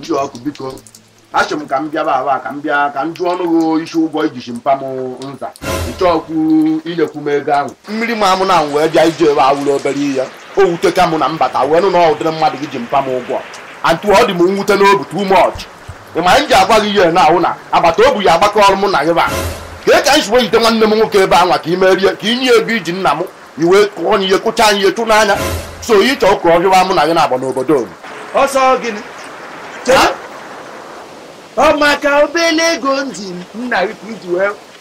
ji ọkụ biko achọ m ka m bịaba aba ka m bịa ka m jụọ ọnụ gị isi ụgwọ i ji mpa m nza ịchọọkwu inyekwu m ego ahụ mmiri ma amụ na m wee bịa ije ebe a wụrụ obere ihe o wuteka mụ na m bata wee nụ na ọ ụdịrị mmadụ gị ji mpa m ụgwọ antu ọ dị m mwute n'obi too much ị ma m ji agwa gị ihe na ahụ na agbata obi ya agbakọ ọrụ mụ na gị ba ka e ka anyị si wee jide nwanne m nwoke ebe anwa ka i merie ka i nye ego i ji nna m i wee kụọ anyị ihe kụcha anyị ihe chụnaa anyị so ị chọọ ka ọ hịwa mụ na gị na-agba n'obodo unu ọsọ gịnị Ha? ọ maka obele ego m ji nna gị ka i ji wee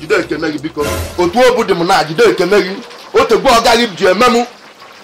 jide ekene gị biko otu obi dị m na jide ekene gị o tego ọga gị ji eme m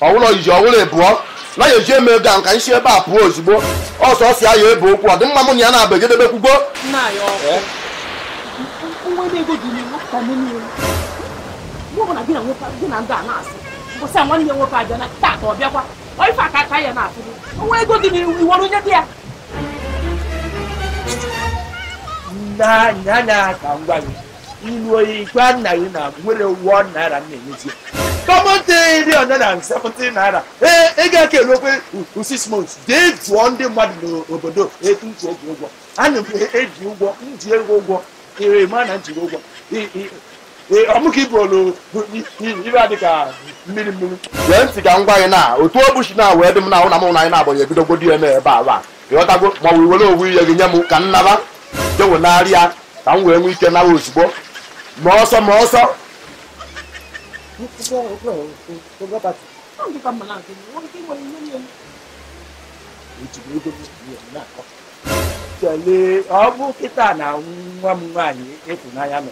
ọwụlọ iji ọwụlọ ịbụọ na ya eji eme ego ahụ ka anyị si ebe a pụọ ozugbo ọsọ ọsọ ya ya ebe okwu ọ dị mma mụ na ya na-abụ ejedebe kwugbo nwa ego dị n'iwu iwere onye dị ya n'anya anya ka m gwa gị i luo i gwa nna gị na o nwerọ one naira m na-enyezi common three hundred and seventy naira ee ị ga-ekele okwe six months jee jụọ ndị mmadụ n'obodo etu m ji eji ụgwọ ana m eji ụgwọ m ji ego ụgwọ ị ma na m jiri ụgwọ Ee, ọ mụ ka ibu olu bụ i- i- ibe a dị ka mmiri mmiri gee ntị ka m gwa gị na otu obi shi wee dị m na ahụ na mụ na gị na-agbanye ebidogodi ya n'ebe a ị ghọtago ma ọ bụ i were owu ihe gị nye m ka m naba jewenarị ya ka m wee nwee ike nawa ozugbo ma ọsọ ma ọsọ Chale, ọ bụ kịta na nwa m nwaanyị ịfụnanya nọ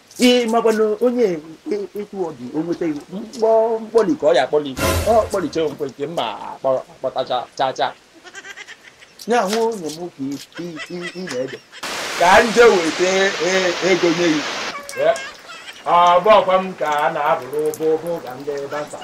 ị makwa na onye etu ọ dị o nweta mkpọli ka ọ ya-akpọli ọ kpọlicha nke nke mma akpọtacha cha cha ya hụ onye m ka ị na-eche ka m jee weta ego nye gị ọ bụ ọkwa m ka a na-abụrụ ụbụ ụbụ ka ndị dancer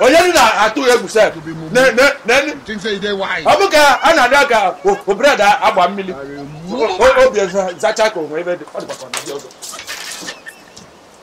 onye na-atụ egwu sef ọ bụ ka a na-adị ka bread a gba mmiri obi zacha ka onwe ebe dị